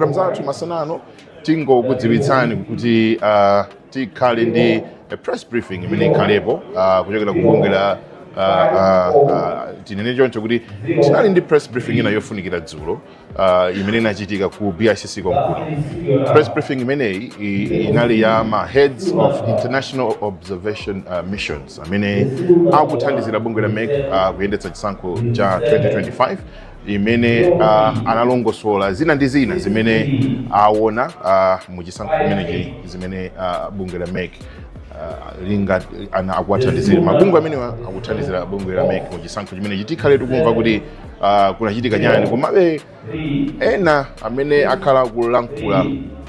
program zathu masana ano tingokudziwitsani kuti uh, tikhale ndi a press briefing imene ikhalepo uh, kuchokera ku bungwe la uh, uh, uh, tinene choncho kuti tinali ndi press briefing ina yofunikira dzulo uh, imene inachitika ku bicc konkuno press briefing imeneyi i- inali ya ma heads of international observation uh, missions amene akuthandizira bungwe la mec uh, kuyendetsa chisankho cha 2025 imene uh, analongosola zina ndi zina zimene awona uh, mu chisankho chimenechi zimene uh, bungwe la mec uh, linga- a- akuwathandizira mabungwe amene akuthandizira bungwe la mec mu chisankho chimenechi tikhale tikumva kuti uh, kunachitika chani komabe ena amene akhala akulankhula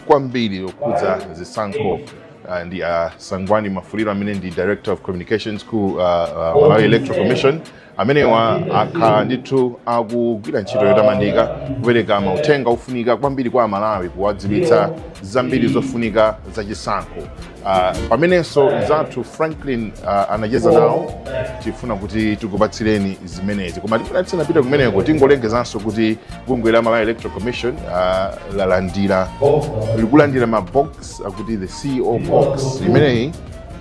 kwambiri okhudza zisankho uh, ndi uh, sangwani mwafulirwa amene ndi director of communications ku uh, uh, malawi electoral commission amenewa akhala ndithu akugwira ntchito yotamandika kupereka mauthenga ofunika kwambiri kwa amalawi kuwadziwitsa zambiri zofunika za chisankho Ah, amenenso mnzathu franklin ah, anacheza nawo tifuna kuti tikupatsireni zimenezi koma tifuna tisanapita kumeneko tingolengezanso kuti bungwe la malawi electoral commission ah, lalandira likulandira mabox akuti the ceo box imeneyi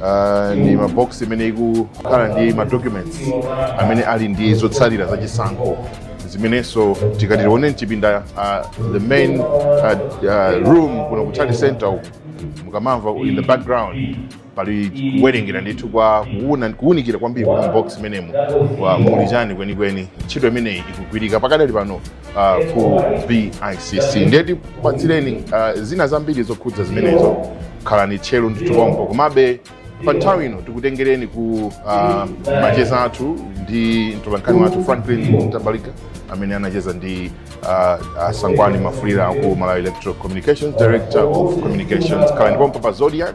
Uh, ndi mabox imene ikukhala ndi madocuments amene ali ndi zotsalira za chisankho zimenenso tikati tione mchipinda uh, the main uh, uh, room kuno ku Tally Center uku mukamamva in the background pali kuwerengera ndithu kwa kuwuna- kuwunikira kwambiri kwa mabox imenemu mu- muli chani kwenikweni ntchito imeneyi ikugwirika pakadali pano uh, ku bicc ndiye tikupatsireni uh, zina zambiri zokhudza zimenezo khalani tcheru ndithu pompo komabe pa nthawi ino tikutengereni ku uh, macheza athu ndi mtolankhani wathu franklin mtambalika amene anacheza ndi uh, uh, sangwani mwafulirwa aku malawi electoral communications director of communications khalani pompo pa zodiak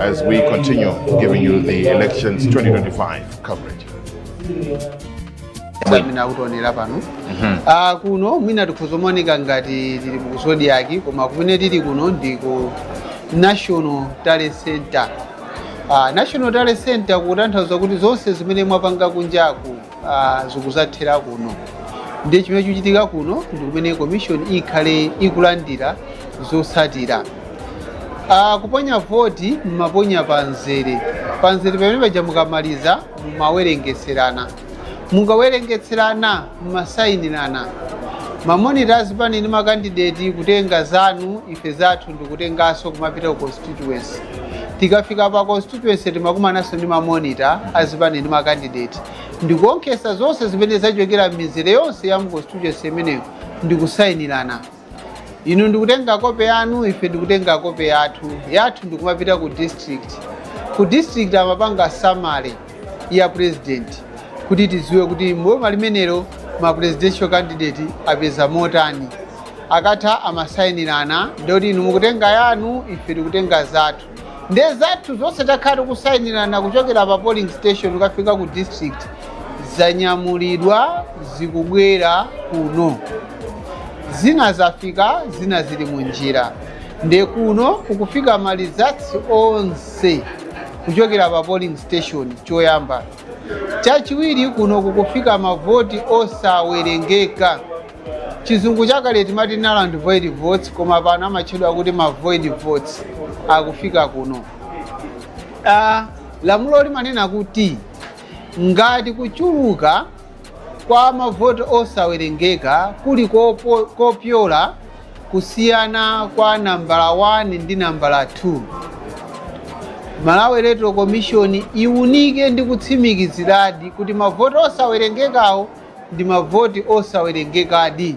as we continue giving you the elections 2025 coverage. mwina kutionera pano Ah, kuno mwina tikhoza kumaoneka ngati tili ku zodiak koma kumene tili kuno ndi ku national tally center Ah, national tally center kutanthauza kuti zonse zimene mwapanga kunjaku ah, zikuzathera kuno ndiye chimene chikuchitika kuno ndi kumene commission ikhale ikulandira zotsatira Ah, kuponya voti mumaponya pa nzere pa nzere pamene paja mukamaliza mumawerengetserana mukawerengetserana mumasayinirana mamonita azipani ndi makandideti kutenga zanu ife zathu nkutenganso kumapita ku constituency tikafika pa constituency timakumananso ndi mamonita azipani ndi makandidate ndikuonkhesa zonse zimene zachokera m'mizere yonse ya mu constituency imeneyo ndikusayinirana inu ndikutenga kope yanu ife ndikutenga kope yathu yathu ndikumapita ku district ku district amapanga summary ya president kuti tidziwe kuti m'boma limenelo ma presidential candidate apeza motani akatha amasayinirana ndoti inu mukutenga yanu ife tikutenga zathu nde zathu zonse takhala tikusayinirana kuchokera pa polling station kukafika ku district zanyamulidwa zikubwera kuno zina zafika zina zili mu njira nde kuno kukufika malizatsi onse kuchokera pa polling station choyamba chachiwiri kuno kukufika mavoti osawerengeka chizungu chakale timati null and void votes koma pano amatchedwa kuti ma void votes akufika kuno Ah, lamulo limanena kuti ngati kuchuluka Kwa mavoti osawerengeka, kuli kopo- kopyola kusiyana kwa nambala 1 ndi nambala 2. Malawi Electoral Commission iwunike ndi kutsimikiziradi kuti mavoti osawerengekawo ndi mavoti osawerengekadi.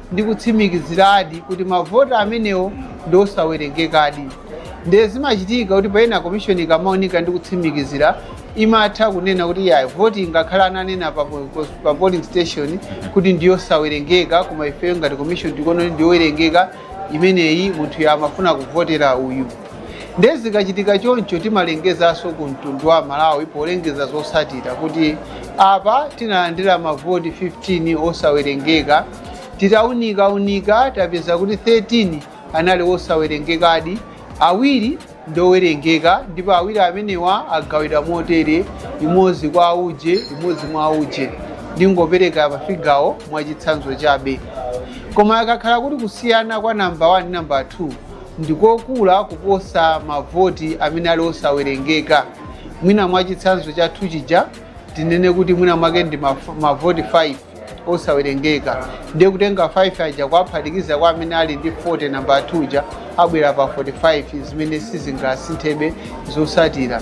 ndikutsimikiziradi kuti mavoti amenewo ndi osawerengekadi ndiye zimachitika kuti payena komishoni ikamaunika ndi kutsimikizira imatha kunena kuti iyayi voti ngakhale ananena pa, po- pa polling station kuti ndiyosawerengeka koma ifeyo ngati komishoni tikuona kuti ndiyowerengeka imeneyi munthuyo amafuna kuvotera uyu Ndiye zikachitika choncho, timalengezanso ku mtundu wa Malawi polengeza zotsatira kuti apa tinalandira mavoti 15 osawerengeka, titaunikaunika tapeza kuti 13 anali osawerengekadi, awiri ndiowerengeka ndipo awiri amenewa agawidwa motere, imodzi kwa auje, imodzi mwa auje. Ndingopereka mafigawo mwachitsanzo chabe. Koma akakhala kuti kusiyana kwa number 1 ndi number 2 ndi kokula kuposa mavoti amene ali osawerengeka. Mwina mwa chitsanzo chathu chija tinene kuti mwina mwake ndi maf- mavoti 5 osawerengeka, ndiye kutenga 5 aja kuwaphatikiza kwa amene ali ndi 40 namba 2 uja abwera pa 45 zimene sizingasinthebe zotsatira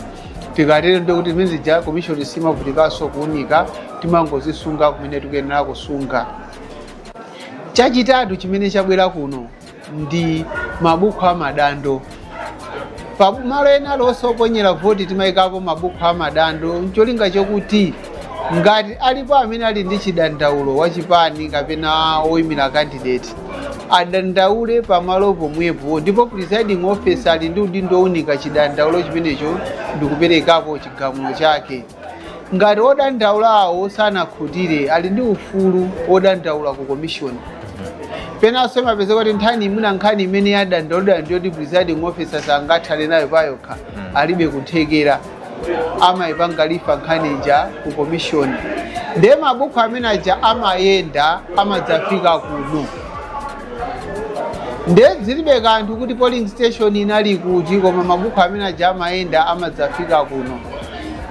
tikatero ndiye kuti zimene zija komishoni simavutikanso kuunika timangozisunga kumene tikuyenera kusunga chachitatu chimene chabwera kuno ndi mabuku a madando pa malo ena alionse oponyera voti timayikapo mabuku a madando ncholinga chokuti ngati alipo amene ali ndi chidandaulo wa chipani kapena woyimira candidate adandaule pamalo pomwepo ndipo presiding officer ali ndi udindo owunika chidandaulo chimenecho ndikuperekapo chigamulo chake Ngati odandaulawo sanakhutire, ali ndi ufulu wodandaula ku komishoni. Penanso imapezeka kuti nthawi zina nkhani imene yadandaulidwa ndi yoti presiding officer sangathane nayo payokha, alibe kuthekera, amaipanga refer nkhani ija ku komishoni. Ndiye mabuku amene aja amayenda amadzafika kuno. nde zilibe kanthu kuti polling station inali kuti koma mabuku amene aja amayenda amadzafika kuno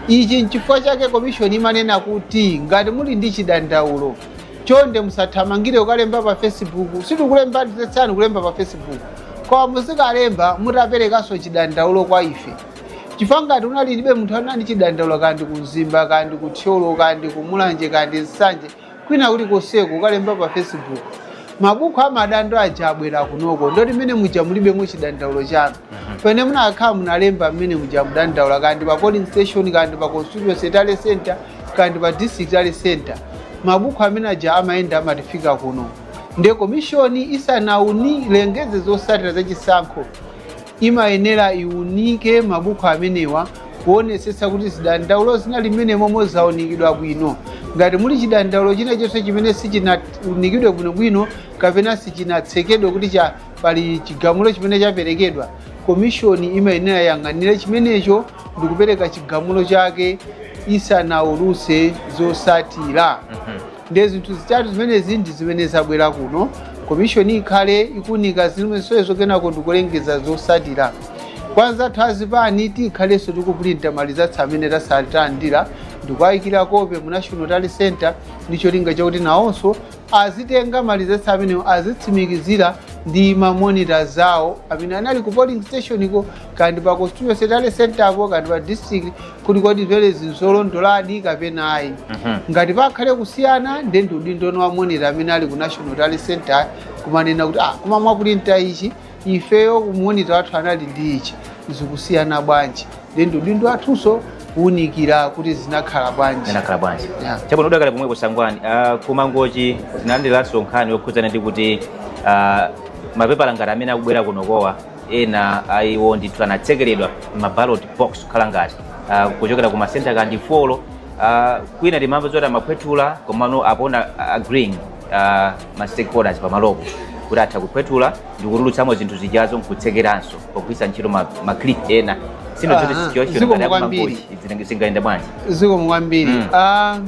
ichi nchifukwa chake komishoni imanena kuti ngati muli ndi chidandaulo chonde musathamangire kukalemba pa facebook sitikuletsani kulemba pa facebook koma muzikalemba mutaperekanso chidandaulo kwa ife chifukwa ngati unalipobe munthu unali ndi chidandaulo kaya ndi ku mzimba kaya ndi ku thyolo kaya ndi ku mulanje kaya ndi nsanje kwina kulikonseko ukalemba pa facebook mabuku amadando aja abwera kunoko ndoti mmene muja mulibemo chidandaulo chanu pamene munakakhala munalemba mmene muja mudandaula kaya ndi pa polling station kaya ndi pa constituency tally center kaya ndi pa district tally center mabuku amene aja amayenda amatifika kuno nde komishoni isanauni isanalengeze zotsatira za chisankho imayenera iunike mabuku amenewa kuonetsetsa kuti zidandaulo zinali mmenemomo zaunikidwa bwino. Ngati muli chidandaulo china chonse chimene sichinaunikidwe bwinobwino kapena sichinatsekedwe kuti cha pali chigamulo chimene chaperekedwa, komishoni imayenera iyang'anire chimenecho ndikupereka chigamulo chake isanaulutse zotsatira. Ndiye zinthu zitatu zimenezi ndi zimene zabwera kuno. Komishoni ikhale ikuunika zimenezo kenako ndikulengeza zotsatira. Kwa anzathu a zipani tikhalenso tikupulinta malizatsi amene tasa- talandira ndikuwayikira kope mu National Tally Center ndi cholinga chakuti nawonso azitenga malizatsi amenewo azitsimikizira ndi mamonita zawo amene anali ku polling stationiko kaya ndi pa constituency tally centerpo kaya ndi pa district kuti kodi zimenezi nzolondoladi kapena ayi ngati pakhale kusiyana nde ndi udindo wa monita amene ali ku national tally center kumanena kuti ah koma mwapulinta ichi ifeyo kumonita wathu anali ndi ichi zikusiyana bwanji nde ndi udindo wathunso kuwunikira kuti zinakhala bwanji zinakhala bwanji Yeah. chabwino tidakali pomwepo Sangwani Ah, ku Mangochi tinalandiranso nkhani yokhudzana ndi kuti ah, mapepala ngati amene akubwera kunokowa ena a iwo ndithu anatsekeredwa m'ma ballot box kukhala ngati ah, kuchokera ku masenta kandi folo ah, kwina timamva zoti amaphwethula komano apona agreeing ah, ma stakeholders pamalopo kuti atha kuphwethula ndi kutulutsamo zinthu zijazo nkutsekeranso pogwiritsa ntchito ma, ma clip ena sino zoti situation ngati akumangochi zingayenda bwanji zikomo kwambiri Mm. Ah,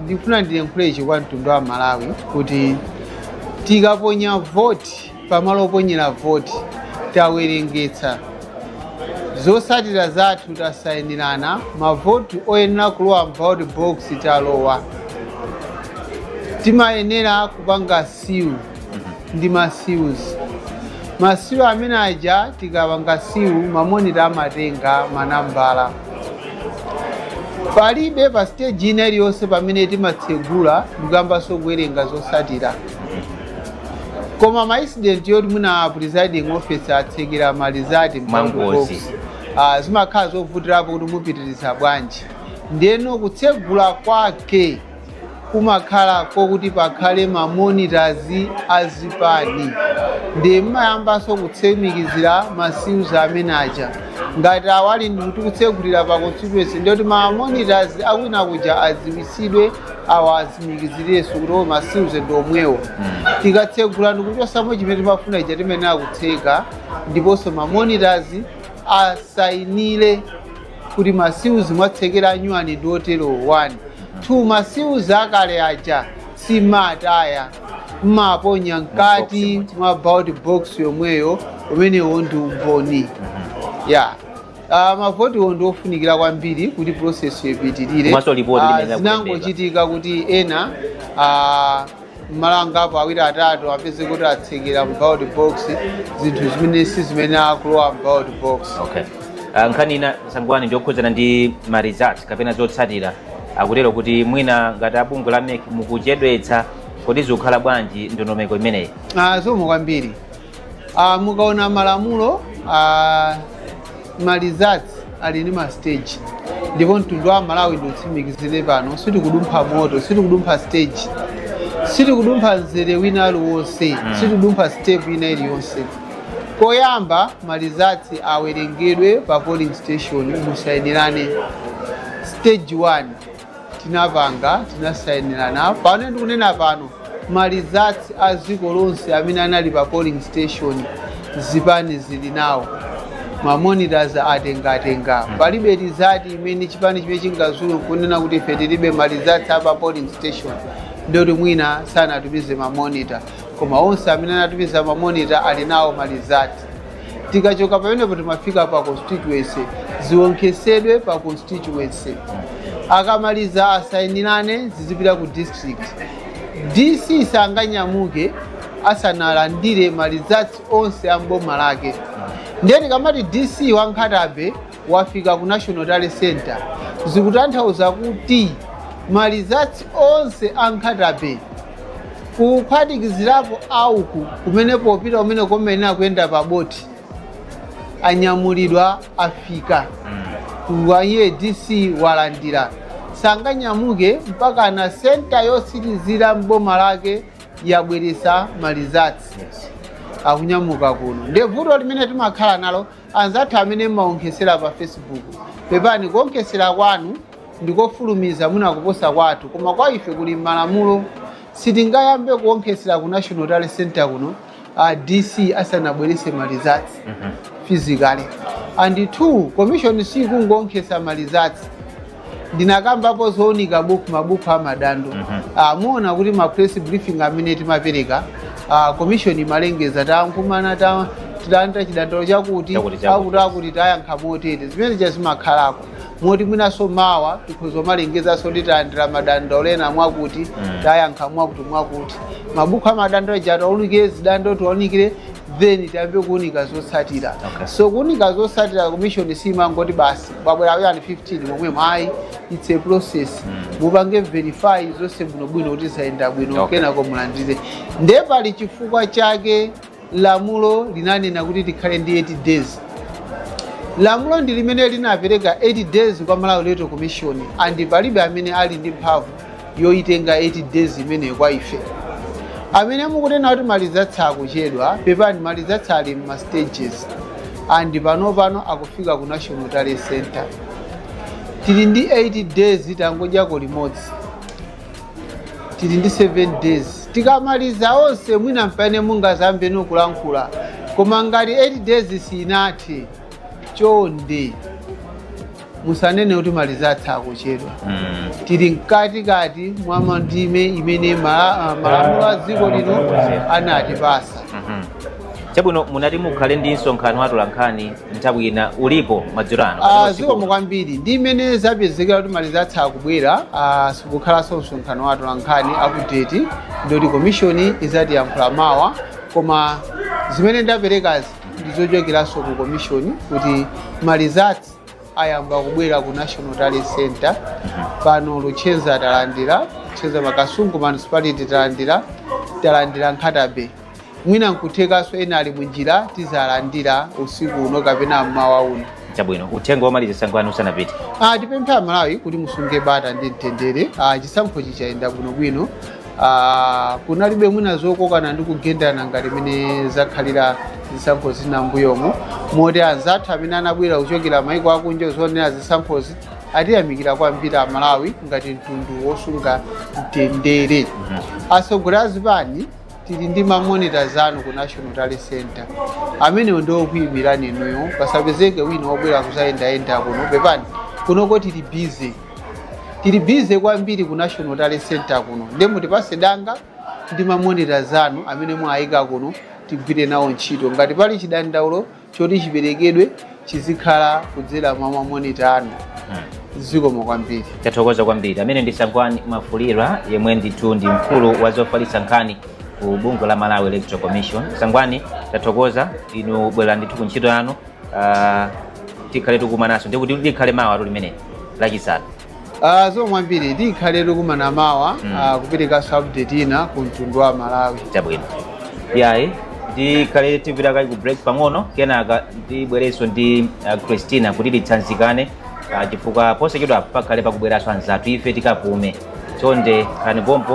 ndikufuna ndiyankhule ichi kwa mtundu wa Malawi kuti tikaponya voti pamalo oponyera voti tawerengetsa zotsatira zathu tasayinirana mavoti oyenera kulowa m'ballot box alowa timayenera kupanga siwu ndi masiwuzi, masiwu amene aja tikapanga siwu mamonita amatenga manambala palibe pa stage ina iliyonse pamene timatsegula ndikuyambanso kuwerenga zotsatira koma ma incident yoti mwina a presiding officer atsekera ma result mwangozi uh, zimakhala zovutirapo kuti mupitiriza bwanji ndeno kutsegula kwake kumakhala kokuti pakhale ma monitors azipani ndi mmayambanso kutsimikizira ma seals amene aja ngati ali ndikuti kutsegulira pa constituency ndiyoti ma monitors akwina kuja adziwitsidwe awa atsimikizirenso kuti o masiuzi ndi omwewo tikatsegula ndikuchotsamo chimene timafuna ija timayenera kutseka ndiponso mamonitors asayinire kuti masiuzi mwatsekera anyuwani ndi otero 1 2 masiuzi akale aja simataya mmaponya mkati mwa ballot box yomweyo umenewo ndi umboni yeah. Ah, mavotiwo ndi ofunikira kwambiri kuti process ipitirire so zinangochitika kuti ena ah, mmalo angapo awiri atatu anapezeka kuti atsekera mu ballot box zinthu zimene sizimayenera kulowa mu ballot box okay Ah, nkhani ina Sangwani ndiyokhudzana ndi ma results kapena zotsatira akutero kuti mwina ngati abungwe la MEC mukuchedwetsa kodi zikukhala bwanji ndondomeko imeneyi Ah, zikomo kwambiri Ah, mukaona malamulo ah, ma results ali ndi ma stage ndipo mtundu wa Malawi ndiutsimikizire pano sitikudumpha moto sitikudumpha stage sitikudumpha mzere wina uliwonse sitikudumpha step ina iliyonse koyamba ma results awerengedwe pa polling station musayinirane stage 1 tinapanga tinasainirana pano ndikunena pano ma results a dziko lonse amene anali pa polling station zipani zili nawo ma monitors anatenga palibe result imene chipani chimene chingadzuke nkunena kuti ife tilibe ma results a pa polling station ndiyoti mwina sanatumize ma monitor koma onse amene anatumiza ma monitor ali nawo ma result tikachoka pamenepo timafika pa constituency ziwonkhesedwe pa constituency akamaliza asayinirane zizipita ku district dc sanganyamuke asanalandire ma results onse a mboma lake ndiye tikamati dc wa nkhata bay wafika ku National Tally Center zikutanthauza kuti ma results onse a nkhata bay kuphatikizirapo auku kumene popita kumeneko mmayenera kuyenda pa boti anyamulidwa afika kwa iye dc walandira sanganyamuke mpaka na center yotsirizira m'boma lake yabweresa ma results akunyamuka kuno ndi vuto limene timakhala nalo Anzathu amene mmaonkhesera pa Facebook, pepani kuonkhesera kwanu ndikofulumiza mwina kuposa kwathu koma kwa ife kuli mmalamulo. Sitingayambe kuonkhesera ku National Tally Centre kuno a DC asanabwerese ma results physically. And two, commission siyikungoonkhesa ma results. ndinakambapo zounika buku mabuku a madando Ah, muona kuti ma press briefing amene timapereka ah, commission imalengeza takumana ta- talandira chidandaulo chakuti chakuti tayankha motere zimene zija zimakhalako moti mwinaso mawa tikhoza kumalengezanso kuti talandira madandaulo ena mwakuti tayankha mwakuti mwakuti mabuku a madando aja tiwaunikire zidando tiwaunikire then tiyambe kuunika zotsatira okay. so kuunika zotsatira commission simangoti basi abwera ya ndi 15 momwemo ayi it's a process mm. mupange verify zonse bwinobwino kuti zayenda bwino okay. kenako mulandire nde pali chifukwa chake lamulo linanena kuti tikhale ndi 8 days lamulo ndi limene linapereka 8 days kwa malawi electoral commission and palibe amene ali ndi mphamvu yoitenga 8 days imeneyo kwa ife amene mukunena kuti ma results akuchedwa pepani ma results ali mma stages and pano pano akufika ku national tally center tili ndi 8 days tangodyako limodzi tili ndi 7 days tikamaliza onse mwina mpamene mungazayambeno kulankhula koma ngati 8 days sinathe chonde musanene kuti ma results akuchedwa Mm. tili mkatikati mwa mandime imene mala- ah, malamulo a dziko lino anatipasa Mhm. chabwino munati mukhale ndi msonkhano wa atolankhani nthawi ina ulipo madzulo ano kapena Ah, usiku zikomo uno? kwambiri ndi mmene zapezekera kuti ma results akubwera ah, sikukhalanso msonkhano wa atolankhani update ndi yoti commission izatiyankhula mawa koma zimene ndaperekazi ndizochokeranso ku commission kuti ma results ayamba kubwera ku national tally center pano luchenza talandira luchenza makasungu municipality talandira talandira nkhatabe mwina nkuthekanso ena ali munjira tizalandira usiku uno kapena mmawa uno chabwino uthenga womaliza Sangwani musanapite Ah, tipemphe amalawi kuti musunge bata ndi mtendere Ah, chisankhochi chayenda bwinobwino Ah, kunalibe mwina zokokana ndi kugendana ngati mene zakhalira zisankho zina mbuyomo moti anzathu amene anabwera kuchokera maiko akunja kuzaonera zisankhozi atiyamikira kwambiri amalawi ngati mtundu wosunga mtendere atsogoleri a zipani tili ndi mamonita zanu ku national tally center amenewo ndi okuyimirani inuyo pasapezeke wina wobwera kuzayendayenda kuno pepani kunoko tili busy tili bize kwambiri ku national tally center kuno nde mutipase danga ndi mamonita zanu amene mwayika kuno tigwire nawo ntchito ngati pali chidandaulo choti chiperekedwe chizikhala kudzera mwa mamonita anu zikomo kwambiri tathokoza kwambiri ameneyo ndi Sangwani Mwafulirwa yemwe ndithu ndi mkulu wa zofalitsa nkhani ku bungwe la malawi electoral commission sangwani tathokoza inu bwererani ndithu ku ntchito yanu ah, tikhale tikumananso ndikuti likhale mawatu limeneli lachitatu Ah, zikomo kwambiri tikhale tikumana mawa Mm. ah, kuperekanso update ina ku mtundu wa malawi chabwino yayi tikhale tipita kaye ku break pang'ono kenaka tibwerenso ndi ah, christina kuti titsanzikane ah, chifukwa posachedwa pakhale pakubweranso anzathu ife tikapume chonde khalani pompo